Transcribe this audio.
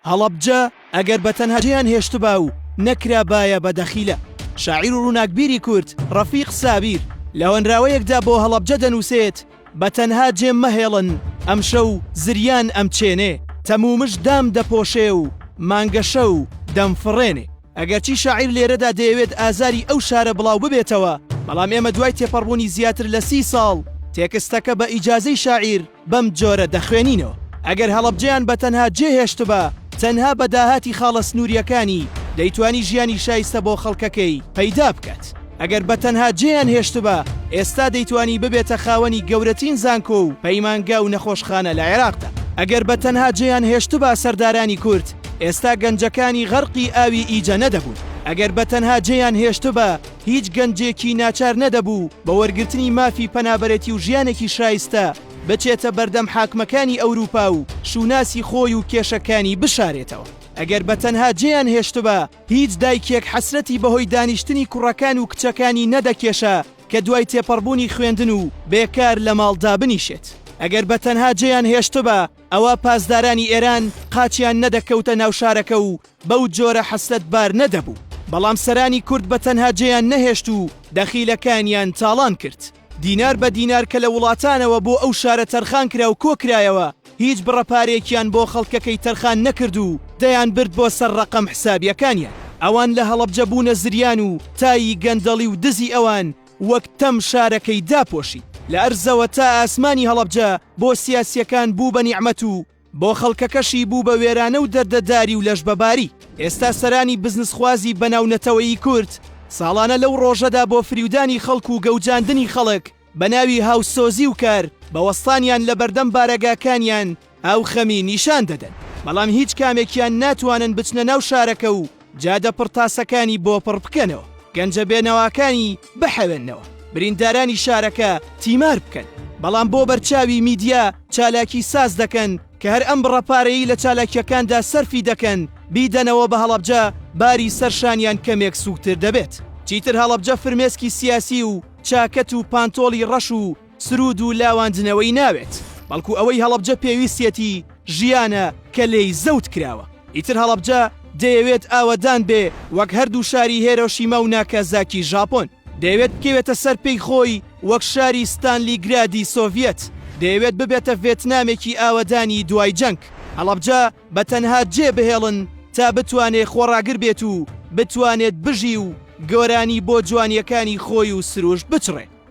هەڵەبجە ئەگەر بە تەنها جێیان هێشتبا و نەکرابایە بە دەخیلە. شاعیر و ڕووناکبیری کورد ڕەفیق سابیر لە هۆنراوەیەکدا بۆ هەڵەبجە دەنووسێت، بە تەنها جێم مەهێڵن ئەمشەو زریان ئەمچێنێ. تەمومژ دام دەپۆشێ و مانگەشەو دەمفڕێنێ. ئەگەرچی شاعیر لێرەدا دەیەوێت ئازاری ئەو شارە بڵاو ببێتەوە، بەڵام ئێمە دوای تێپەڕبوونی زیاتر لە سی ساڵ، تێکستەکە بە ئیجازەی شاعیر، بەم جۆرە دەخوێنینەوە. ئەگەر هەڵەبجەیان بە تەنها جێ هێشتبا، تەنها بە داهاتی خاڵە سنوورییەکانی دەیتوانی ژیانی شایستە بۆ خەڵکەکەی پەیدا بکات. ئەگەر بە تەنها جێیان هێشتبا، ئێستا دەیتوانی ببێتە خاوەنی گەورەتین زانکۆ و پەیمانگا و نەخۆشخانە لە عێراقدا. ئەگەر بە تەنها جێیان هێشتبا سەردارانی کورد ئێستا گەنجەکانی غەرقی ئاوی ئیجە نەدەبوون. ئەگەر بە تەنها جێیان هێشتبا، هیچ گەنجێکی ناچار نەدەبوو بە وەرگرتنی مافی پەنابەرێتی و ژیانێکی شایستە بچێتە بەردەم حاکمەکانی ئەوروپا و شوناسی خۆی و کێشەکانی بشارێتەوە. ئەگەر بە تەنها جێیان هێشتبا، هیچ دایکێک حەسرەتی بەهۆی دانیشتنی کوڕەکان و کچەکانی نەدەکێشا کە دوای تێپەڕبوونی خوێندن و بێکار لە ماڵ دابنیشێت. ئەگەر بە تەنها جێیان هێشتبا، ئەوا پاسدارانی ئێران قاچیان نەدەکەوتە ناو شارەکە و بەو جۆرە حەسرەتبار نەدەبوو، بەڵام سەرانی کورد بە تەنها جێیان نەهێشت و دەخیلەکانیان تاڵان کرد. دینار بە دینار کە لە وڵاتانەوە بۆ ئەو شارە تەرخان کرا و کۆ کرایەوە، هیچ بڕە پارەیەکیان بۆ خەڵکەکەی تەرخان نەکرد و دەیان برد بۆ سەر ڕەقەم حسابیەکانیان. ئەوان لە هەڵەبجە بوونە زریان و تای گەندەڵی و دزی ئەوان وەک تەم شارەکەی داپۆشی. لە ئەرزەوە تا ئاسمانی هەڵەبجە بۆ سیاسیەکان بوو بە نیعمەت و بۆ خەڵکەکەشی بوو بە وێرانە و دەردەداری و لەشبەباری. ئێستا سەرانی بزنسخوازی بەناو نەتەوەیی کورد، ساڵانە لەو ڕۆژەدا بۆ فریودانی خەڵک و گەوجاندنی خەڵک بە ناوی هاوسۆزی و کار بە وەستانیان لە بەردەم بارەگاکانیان ئاو خەمی نیشان دەدەن، بەڵام هیچ کامێکیان ناتوانن بچنە ناو شارەکە و جادە پڕ تاسەکانی بۆ پڕ بکەنەوە، گەنجە بێنەواکانی بحەوێنەوە، بریندارانی شارەکە تیمار بکەن، بەڵام بۆ بەرچاوی میدیا چالاکی ساز دەکەن کە هەر ئەم بڕە پارەیەی لە چالاکییەکاندا سەرفی دەکەن بیدەنەوە بە هەڵەبجە باری سەر شانیان کەمێک سووکتر دەبێت. چیتر هەڵەبجە فرمێسکی سیاسی و چاکەت و پانتۆڵی ڕەش و سروود و لاواندنەوەی ناوێت، بەڵکو ئەوەی هەڵەبجە پێویستیەتی ژیانە کە لێی زەوت کراوە. ئیتر هەڵەبجە دەیەوێت ئاوەدان بێ وەک هەردوو شاری هێرۆشیما و ناکازاکی ژاپۆن. دەیەوێت بکەوێتە سەر پێی خۆی وەک شاری ستانلیگرادی سۆڤیەت. دەیەوێت ببێتە ڤێتنامێکی ئاوەدانی دوای جەنگ. هەڵەبجە بە تەنها جێ بهێڵن تا بتوانێت خۆڕاگر بێت و بتوانێت بژی و گۆرانی بۆ جوانیەکانی خۆی و سروشت بچڕێ.